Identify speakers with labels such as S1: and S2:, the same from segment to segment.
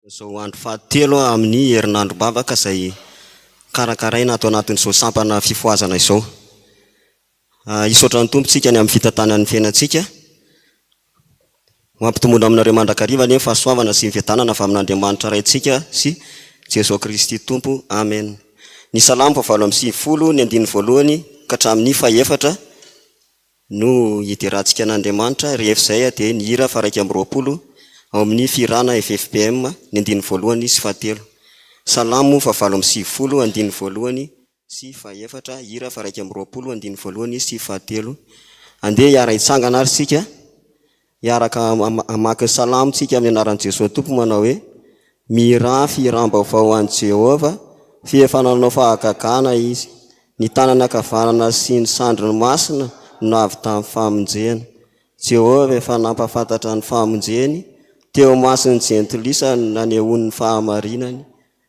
S1: Amin'izao andro fahatelo amin'ny herinandrom-bavaka izay karakaraina ato anatin'izao sampana fifohazana izao. Hisaotra ny Tompo isika ny amin'ny fitantanany ny fiainantsika. Ho ampitomboina aminareo mandrakariva anie ny fahasoavana sy ny fiadanana avy amin'Andriamanitra Raintsika sy Jesoa Kristy Tompo. Amen. Ny Salamo fahavalo amby sivifolo, ny andininy voalohany ka hatramin'ny fahefatra, no hiderantsika an'Andriamanitra, rehefa izay dia ny hira faharaika amby roapolo ao amin'ny fihirana FFPM, ny andininy voalohany sy fahatelo. Salamo fahavalo amby sivifolo, andininy voalohany sy fahefatra, hira faharaika amby roapolo, andininy voalohany sy fahatelo. Andeha hiara-hitsangana ary isika. Hiaraka hamaky ny salamo tsika amin'ny anaran'i Jesoa Tompo manao hoe, Mihiranfy hiram-baovao ho an'i Jehovah, f'efa nanao fahagagana izy. Ny tanany ankavanana sy ny sandriny masina no nahavitan'ny famonjena. Jehovah efa nampahafantatra ny famonjeny teo imason'ny jentilisa ny nanehoany ny fahamarinany.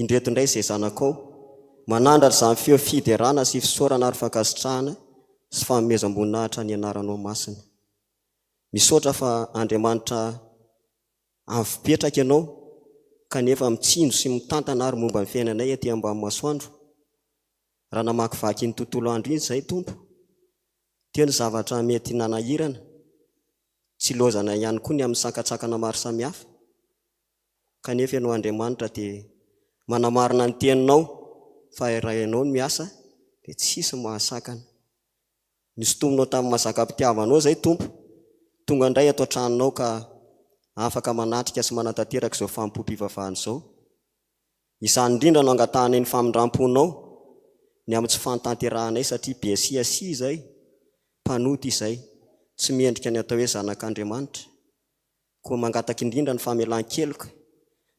S1: Indreto indray izay zanakao. Manandratra izany feo fiderana sy fisaorana ary fankasitrahana sy fanomezam-boninahitra ny anaranao masina. Misaotra fa Andriamanitra avo petraka ianao kanefa mitsinjo sy mitantana ary momba ny fiainanay aty ambany masoandro. Raha namakivaky iny tontolo andro iny izahay Tompo teo ny zavatra mety nanahirana, tsy ilaozanay ihany koa ny amin'ny sankatsakana maro samihafa. kanefa Ianao Andriamanitra dia manamarina ny Teninao fa raha Ianao no miasa dia tsy hisy ny mahasakana. Nosintominao tamin'ny mazakam-pitiavanao izay Tompo, tonga indray ato an-tranonao ka afaka manatrika sy manatanteraka izao fanompoam-pivavahana izao. Izany indrindra no angatahanay ny famindram-ponao ny amin'ny tsy fanotanterahanay satria bsiasia izay, mpanota izay, tsy mendrika ny atao hoe zanak'Andriamanitra. Koa mangataka indrindra ny famelan-keloka.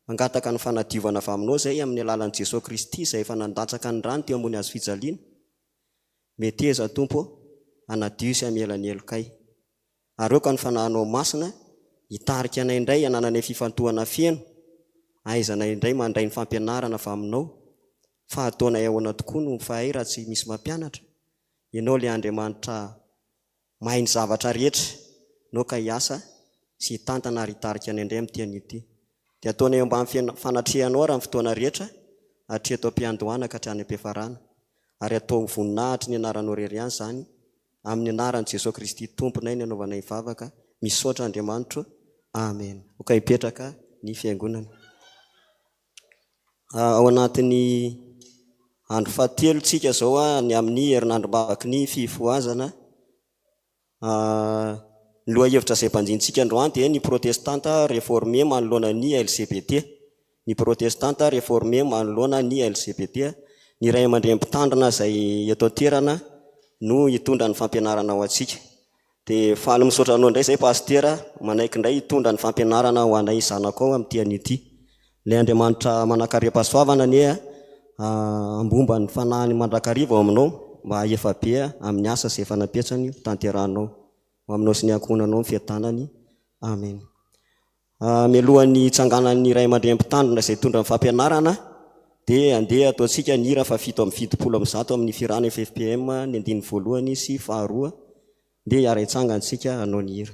S1: Mangataka ny fanadiovana avy aminao izay amin'ny alalan'i Jesoa Kristy izay efa nandatsaka ny rany teo ambony hazo fijaliana. Meteza, Tompo ô, hanadio sy hamela ny helokay. Ary aoka ny Fanahinao Masina hitarika anay indray hanananay fifantohana feno, ahaizanay indray mandray ny fampianarana avy aminao. Fa hataonay ahoana tokoa no mifahay raha tsy misy mampianatra? Ianao ilay Andriamanitra Mahay ny zavatra rehetra, naoka hiasa sy hitantana ary hitarika ny indray amin'ny teny ity. Dia ataonay eo ambany fanatrehanao raha ny fotoana rehetra, hatreto am-piandohana ka hatrany am-piafarana. Ary ataovy ho voninahitry ny anaranao irery ihany izany, amin'ny anaran'i Jesoa Kristy Tomponay no anaovanay ny vavaka, misaotra Andriamanitro. Amena. Aoka hipetraka ny Fiangonana. Ao anatin'ny andro fahatelo tsika zao ny amin'ny herinandro mamaky ny fifohazana, ny lohahevitra izay banjintsika androany dia ny protestanta reforme manoloana ny LGBT, ny protestanta reforme manoloana ny LGBT, ny ray aman-dreny mpitandrina izay eto an-toerana no hitondra ny fampianarana ho antsika. De faly misaotra anao indray zay Pasitera manaiky indray hitondra ny fampianarana ho anay zanako ao amin'ity anio ity. Ilay Andriamanitra manankaream-pahasoavana anie hambomba ny fanahiny mandrakariva ao aminao mba hahefa be amin'ny asa izay efa napetrany ho tanterahinao. Ho aminao sy ny ankohonanao ny fiadanany. Amen. Mialohan'ny hitsanganan'ny ray aman-dreny mpitandrina izay hitondra ny fampianarana dia andeha ataontsika ny hira fahafito amby fitopolo amby zato amin'ny Firana FFPM ny andininy voalohany sy faharoa dia hiara hitsangana isika hanao ny hira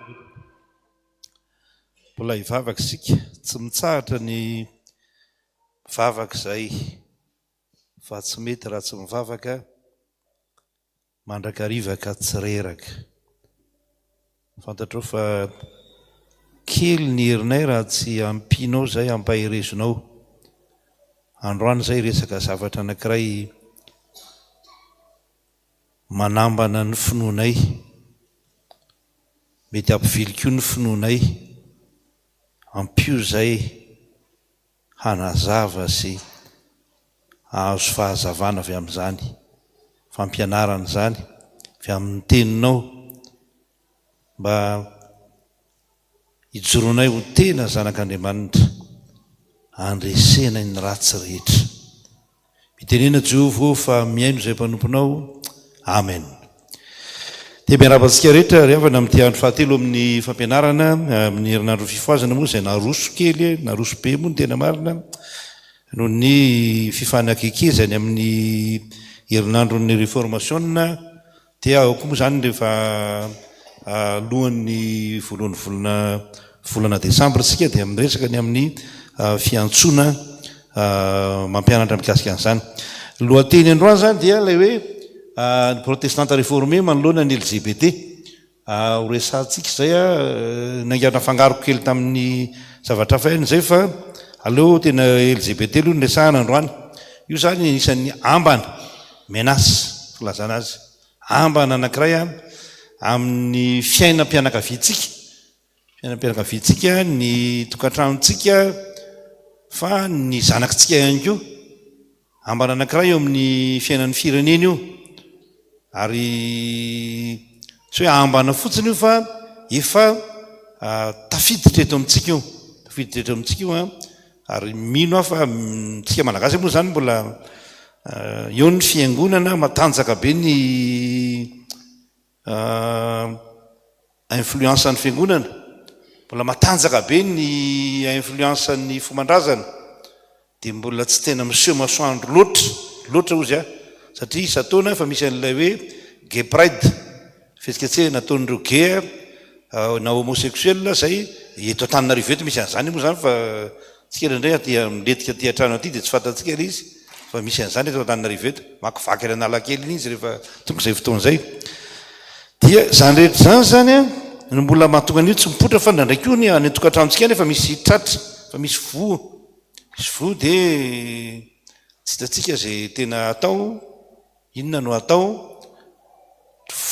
S2: Mbola hivavaka isika. Tsy mitsahatra ny mivavaka izay fa tsy mety raha tsy mivavaka mandrakariva ka tsy reraka. Fantatrao fa kely ny herinay raha tsy ampianao izay hampaherezonao. Androany izay hiresaka zavatra anankiray manambana ny finoanay. Mety hampivily koa ny finoanay. Ampio izay hanazava sy hahazo fahazavana avy amin'izany fampianarana izany, avy amin'ny Teninao, mba hijoroanay ho tena zanak'Andriamanitra, handresenay ny ratsy rehetra. Mitenena Jehovah ô fa mihaino izay mpanomponao. Amen. Dia miarahaba antsika rehetra ry havana amin'ity andro fahatelo amin'ny fampianarana amin'ny herinandron'ny fifohazana moa izay naroso kely, naroso be moa ny tena marina noho ny fifanakekezany amin'ny herinandron'ny reformasiona Dia ao koa moa izany rehefa alohan'ny voalohan'ny volana volana desambra isika dia miresaka ny amin'ny fiantsoana mampianatra mikasika an'izany. Ny lohateny androany izany dia ilay hoe ny protestanta reformé manoloana ny LGBT. Ho resahantsika izay niainga nafangaroko kely tamin'ny zavatra hafa ihany izay fa aleo tena LGBT aloha no resahana androany. Io izany anisan'ny ambana. Menace, filazana azy, ambana anankiray an, amin'ny fiainam-pianakaviantsika, fiainam-pianakaviantsika, ny tokantranontsika, fa ny zanakitsika ihany koa. Ambana anankiray eo amin'ny fiainan'ny firenena io. Ary tsy hoe ambana fotsiny io fa efa tafiditra eto amintsika io. Tafiditra eto amintsika io an, Ary mino aho fa amintsika Malagasy moa izany mbola eo ny fiangonana, matanjaka be ny influence ny fiangonana, mbola matanjaka be ny influence ny fomban-drazana, dia mbola tsy tena miseho masoandro loatra loatra hozy aho, satria isan-taona efa misy an'ilay hoe Gay Pride. Fihetsiketsehana nataon'ireo gay na homosexuels izay eto Antananarivo eto misy an'izany moa izany fa tsy kely indray aty milentika aty an-trano aty dia tsy fantatsika ilay izy fa misy an'izany eto Antananarivo eto. Makivaky any Analakely iny izy rehefa tonga izay fotoana izay. Dia izany rehetra izany izany no mbola mahatonga an'io tsy mipoitra fa indraindray koa ny any an-tokantranontsika any efa misy tratra, efa misy voa, misy voa dia tsy hitantsika izay tena atao. Inona no hatao?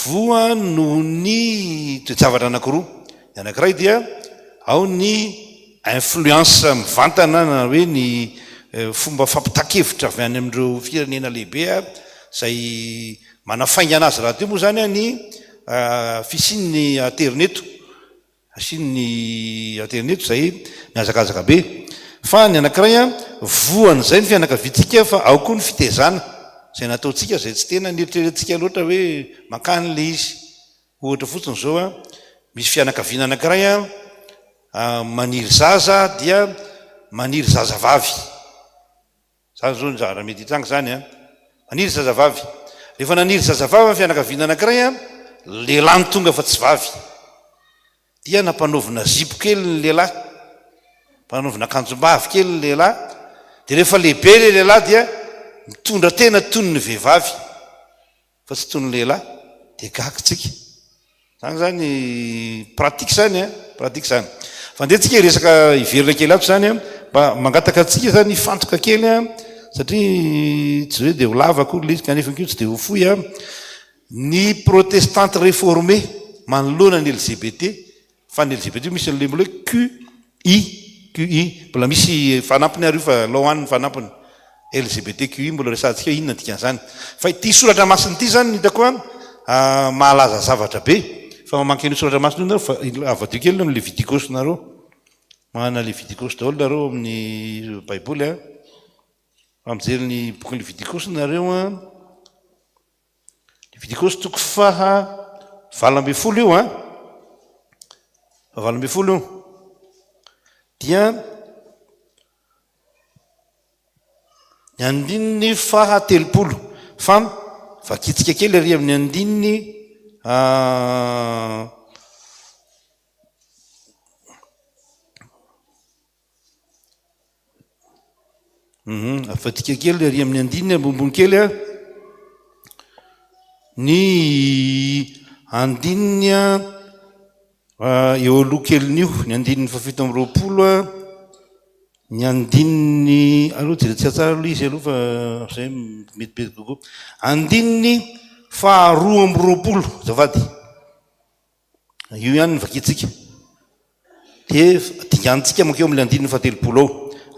S2: Voa noho ny toe-javatra anankiroa. Ny anankiray dia ao ny influence mivantana na hoe ny fomba fampitan-kevitra avy any amin'ireo firenena lehibe izay manafaingana azy rahateo moa izany ny fisian'ny aterineto Asiany ny aterineto izay mihazakazaka be. Fa ny anankiray an, voan'izay ny fianakaviantsika fa ao koa ny fitezana izay nataontsika izay tsy tena neritreretintsika loatra hoe mankany ilay izy. Ohatra fotsiny izao an, misy fianakaviana anankiray an, maniry zaza dia maniry zazavavy. Izany izao no zavatra mety hitranga izany an! Maniry zazavavy. Rehefa naniry zazavavy ny fianakaviana anankiray an, lehilahy no tonga fa tsy vavy. Dia nampanaovina zipo kely ny lehilahy, nampanaovina akanjombavy kely ny lehilahy. Dia rehefa lehibe ilay lehilahy dia mitondra tena toy ny vehivavy. Fa tsy toy ny lehilahy dia gaga tsika. Zany zany pratique zany a, pratique zany. Fa ndeha tsika hiresaka hiverina kely ato zany a, mba mangataka antsika zany hifantoka kely a, satria tsy hoe dia ho lava akory ilay izy kanefa koa tsy dia ho fohy a, ny protestante reformée manoloana ny LGBT, Fa ny LGBT io misy label hoe QI, QI, mbola misy fanampiny ary io fa law any ny fanampiny. LGBT QI mbola resahantsika hoe inona ny dikan'izany. Fa ity soratra masina ity izany no hitako an, mahalaza zavatra be. Fa mamaky an'io soratra masina io nareo fa avadio kely ny Levitikos nareo. Manana Levitikos daholo nareo amin'ny baiboly an. Raha mijery ny bokin'ny Levitikos nareo an. Levitikosy toko faha valo ambin'ny folo io an, faha valo ambin'ny folo io dia ny andininy faha telopolo fa vakitsika kely ary amin'ny andininy ah, Mhm, avadika kely ary amin'ny andininy ambonimbony kely a. Ny andininy a eo aloha kelin'io, ny andininy fahafito amby roapolo a, ny andininy aleo jereo tsara tsara aloha izy aloha fa zay mety be kokoa. Andininy faharoa amby roapolo azafady. Io ihany no vakintsika. Dia dinganintsika mankeo amin'ilay andininy fahatelopolo ao.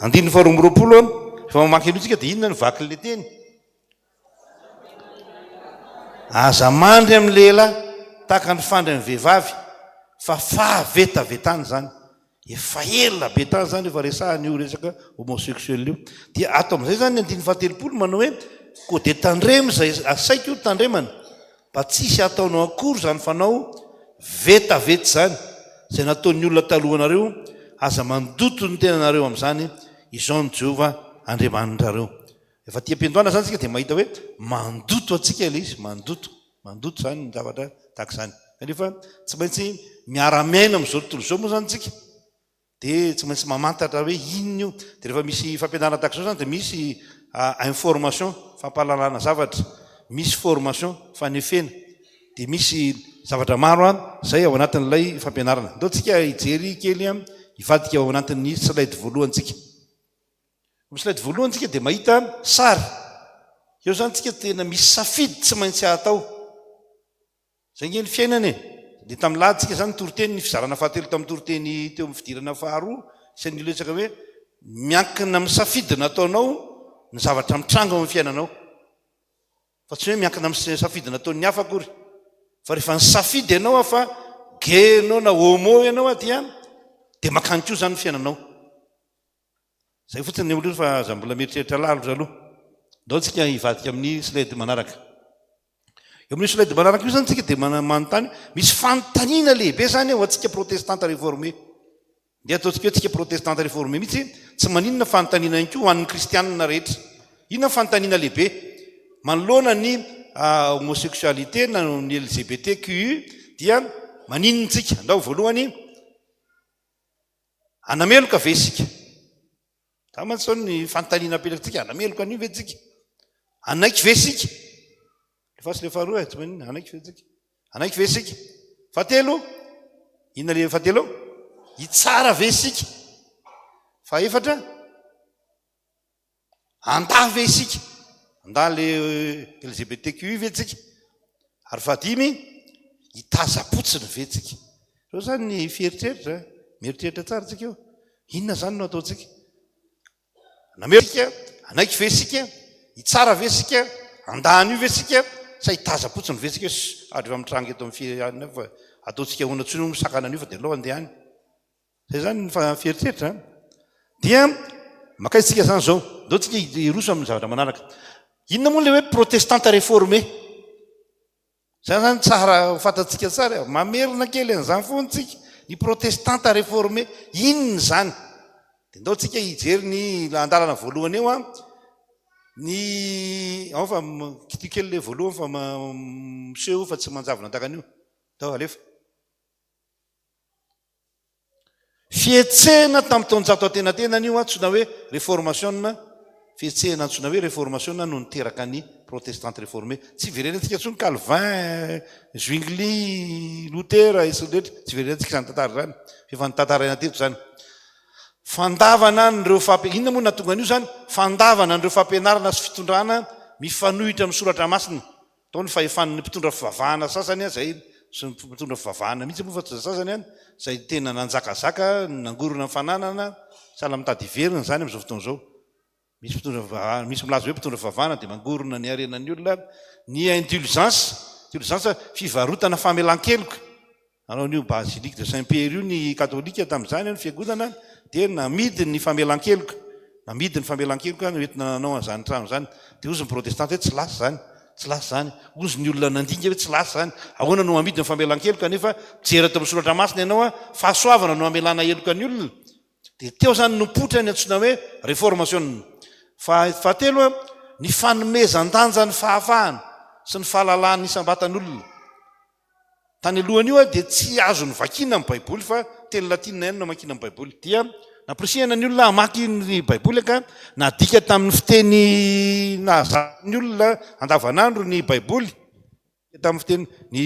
S2: Andininy faharoa amby roapolo an, rehefa mamaky an'io tsika dia inona no vakin'ilay teny? Aza mandry amin'ny lehilahy tahaka ny fandry amin'ny vehivavy fa fahavetavetana izany. Efa ela be tany izany efa resahana io resaka homosexuel io. Dia ato amin'izay izany ny andininy fahatelopolo manao hoe, koa dia tandremo izay asaiky ho tandremana, mba tsy hisy hataonao akory izany fanao vetaveta izany, izay nataon'ny olona talohanareo, aza mandoto ny tenanareo amin'izany, izao no Jehovah Andriamanitrareo. Efa aty am-piandohana izany isika dia mahita hoe mandoto antsika ilay izy, mandoto. Mandoto izany ny zavatra tahaka izany. Kanefa tsy maintsy miara-miaina amin'izao tontolo izao moa izany isika, dia tsy maintsy mamantatra hoe inona io. Dia rehefa misy fampianarana tahaka izao izany dia misy information, fampahalalana zavatra, misy formation, fanefena, dia misy zavatra maro izay ao anatin'ilay fampianarana. Andao isika hijery kely hivadika ao anatin'ny slide voalohantsika. Amin'ny slide voalohany tsika dia mahita sary. Eo zany tsika tena misy safidy tsy maintsy atao. Zay nge ny fiainana e. Dia tamin'ny lahady tsika zany toriteny ny fizarana fahatelo tamin'ny toriteny teo amin'ny fidirana faharoa sy ny resaka hoe miankina amin'ny safidy nataonao ny zavatra mitranga ao amin'ny fiainanao. Fa tsy hoe miankina amin'ny safidy nataon'ny hafa akory. Fa rehefa ny safidy ianao fa gay ianao na homo ianao dia dia makany koa zany ny fiainanao. Izay fotsiny ny olona fa aza mbola mieritreritra lalitra aloha. Andao tsika hivadika amin'ny slide manaraka. Eo amin'io slide manaraka io zany tsika dia manontany, misy fanontaniana lehibe zany ho antsika protestanta reforme. Ndeha ataontsika hoe tsika protestanta reforme mihitsy, tsy maninona fanontaniana ihany koa ho an'ny kristianina rehetra. Inona ny fanontaniana lehibe? Manoloana ny homosexualité na ny LGBTQI dia maninona tsika? Andao voalohany, Hanameloka ve isika? Zany mantsy izao ny fanontaniana apetratsika, hanameloka an'io ve tsika? Hanaiky ve isika? Lefaso le faharoa e, tsy maninona, hanaiky ve tsika? Hanaiky ve isika? Fahatelo, inona le fahatelo? Hitsara ve isika? Fahaefatra, Andahy ve isika? Andahy le LGBTQI ve tsika? Ary fahadimy, hitazam-potsiny ve tsika? Reo zany ny fieritreritra, mieritreritra tsara tsika eo. Inona zany no ataontsika? Namery tsika? Anaiky ve sika? Hitsara ve sika? Andahy an'io ve sika? Sa hitazam-potsiny ve sika? Sh! Ary efa mitranga eto amin'ny firenena fa ataontsika ahoana tsony hono sakana an'io fa de aleo andeha any. Zay izany ny fiheritreritra an! Dia makaiza isika izany izao? Ndao isika hiroso amin'ny zavatra manaraka. Inona moa ilay hoe protestanta reformé? Izany izany tsara ho fantatsika tsara e. Mamerina kely an'izany foana isika. Ny protestanta reformé, inona izany? Dia ndao isika hijery ny andalana voalohany eo an. Ny, ao fa kitio kely ilay voalohany fa miseho io fa tsy manjavona an-dakan'io. Ndao alefa. Fihetsehana tamin'ny taonjato antenatenany io antsoina hoe reformasiona, fihetsehana antsoina hoe reformasiona no niteraka ny Protestante reforme. Tsy iverenantsika intsony Calvin, Zwingli, Luther, sy ny rehetra, tsy iverenantsika izany tantara izany, fa efa notantaraina teto izany. Fandavana an'ireo fampi-, inona moa no nahatonga an'io izany? Fandavana an'ireo fampianarana sy fitondrana mifanohitra amin'ny soratra masina, Tao ny fahefan'ny mpitondra fivavahana sasany aza iny, sy ny mpitondra fivavahana mihitsy moa fa tsy ny sasany an, izay tena nanjakazaka, nangorona ny fananana, sahala amin'ny tady hiverina izany amin'izao fotoana izao. Misy mpitondra fivavahana, misy milaza hoe mpitondra fivavahana dia mangorona ny harenan'ny olona, ny indulgence, indulgence fivarotana famelan-keloka. Nanao an'io Basilique de Saint Pierre io ny Katolika tamin'izany eo ny fiangonana dia namidy ny famelan-keloka, namidy ny famelan-keloka no entina nanao an'izany trano izany. Dia hozy ny Protestanta hoe tsy lasa izany, tsy lasa izany. Hozy ny olona nandinika hoe tsy lasa izany, ahoana no hamidy ny famelan-keloka nefa mijery tao amin'ny soratra masina ianao a, fahasoavana no hamelana heloka ny olona. Dia teo izany no nipoitra ny antsoina hoe reformasiona. Fa fahatelo a, ny fanomezan-danja ny fahafahana sy ny fahalalahan'ny isam-batan'olona. Tany alohan'io aho dia tsy azo novakiana ny Baiboly fa teny latinina ihany no namakiana ny Baiboly. Dia nampirisihana ny olona hamaky ny Baiboly ka nadika tamin'ny fiteny nahazahan'ny olona andavanandro ny Baiboly. Nadika tamin'ny fiteny, ny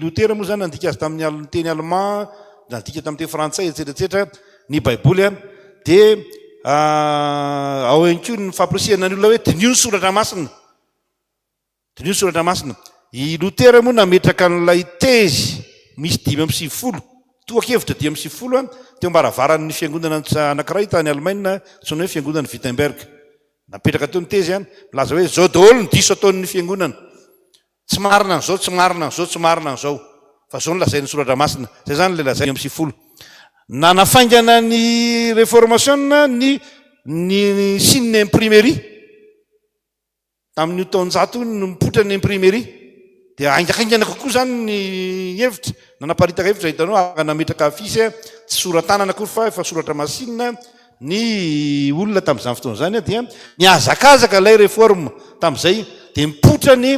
S2: Lotera moa izany nandika azy tamin'ny teny alemà, nadika tamin'ny teny frantsay, etsetra etsetra ny Baiboly. Dia ao ihany koa ny fampirisihana ny olona hoe diniho ny soratra masina. Diniho ny Soratra Masina. I Lotera moa nametraka an'ilay tezy misy dimy amby sivifolo tohan-kevitra dimy amby sivifolo teo am-baravaran'ny fiangonana anankiray tany Alemaina antsoina hoe Fiangonan'i Wittenberg. Napetraka teo ny tezy milaza hoe izao daholo ny diso ataon'ny fiangonana, tsy marina an'izao, tsy marina an'izao, tsy marina an'izao, fa izao no lazain'ny Soratra Masina. Izay izany ilay lazainy dimy amby sivifolo. Nanafaingana ny Reformasiona ny ny signe imprimerie. Tamin'io taonjato io no nipoitra ny imprimerie dia haingahaingana kokoa izany ny hevitra, nanaparitaka hevitra hitanao ary nametraka affiche tsy sora-tanana akory fa efa soratra masinina ny olona tamin'izany fotoana izany dia nihazakazaka ilay reforme tamin'izay dia nipoitra ny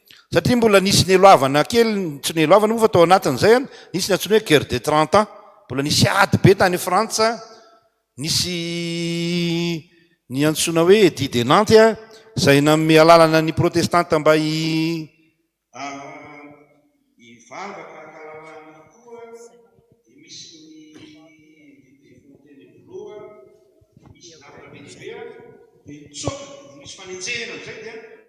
S2: Satria mbola nisy neloavana kely, tsy neloavana moa fa tao anatin'izay an, nisy ny antsoina hoe guerre des trente ans, mbola nisy ady be tany Frantsa, nisy ny antsoina hoe edit de Nantes a, izay nanome alalana ny protestanta mba hi, hivavaka hankalamany koa, dia misy ny edit de Fontainebleau, dia misy ny ady be dia be an, dia nitsoaka, nisy fanenjehana izay dia.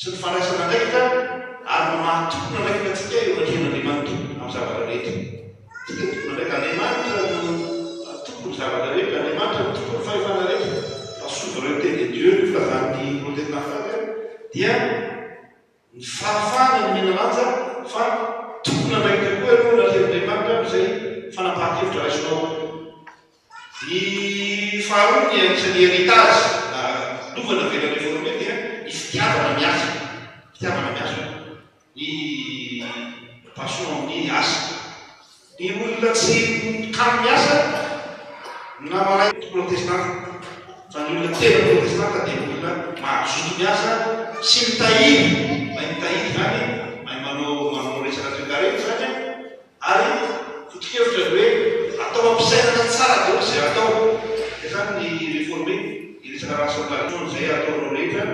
S2: sy ny fandraisana andraikitra ary ny maha tompon'andraikitra antsika eo anatrehan'Andriamanitra amin'ny zavatra rehetra. Isika tompon'andraikitra. Andriamanitra no tompon'ny zavatra rehetra. Andriamanitra no tompon'ny fahefana rehetra. La souveraineté de Dieu no filazan'ny Protesta Faka dia ny fahafahana ny menalanja fa tompon'andraikitra koa ianao eo anatrehan'Andriamanitra amin'izay fanapahan-kevitra raisinao. Ny faharoa ny an'isa ny heritage nanaovana avy eny amin'ny forum dia ny fitiavana ny asa, fitiavana ny asa, ny passion amin'ny asa. Ny olona tsy mikalo ny asa na mahay protestanta fa ny olona tena protestanta dia olona mazoto miasa sy mitahiry, mahay mitahiry izany, mahay manao resaka toekarena izany an! Ary foto-kevitra ny hoe atao ampisainana tsara daholo izay atao. Dia izany ny reforme, hiresaka rationalisme izay ataonao rehetra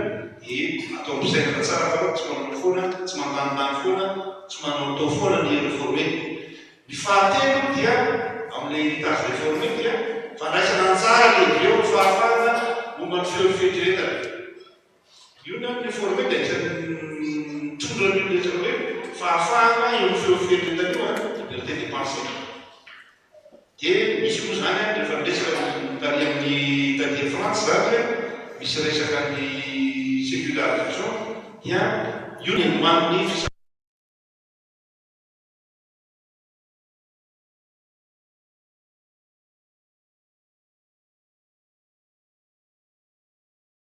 S2: dia atao ampisainana tsara fa tsy manao foana, tsy mandanindany foana, tsy manaotao foana ny reforme. Ny fahatelo dia amin'ilay heritage reforme dia fandraisana anjara lehibe ao ny fahafahana momba ny feon'ny fieritreretana. Io ny amin'ny forme dia anisan'ny mitondra an'io rehetra hoe fahafahana eo amin'ny feo firenena io an, liberté de pensée. Dia misy moa izany an, rehefa miresaka ny tany amin'ny taty Frantsa izany an, misy resaka ny sécularisation, dia io ny hanoman'ny fisa.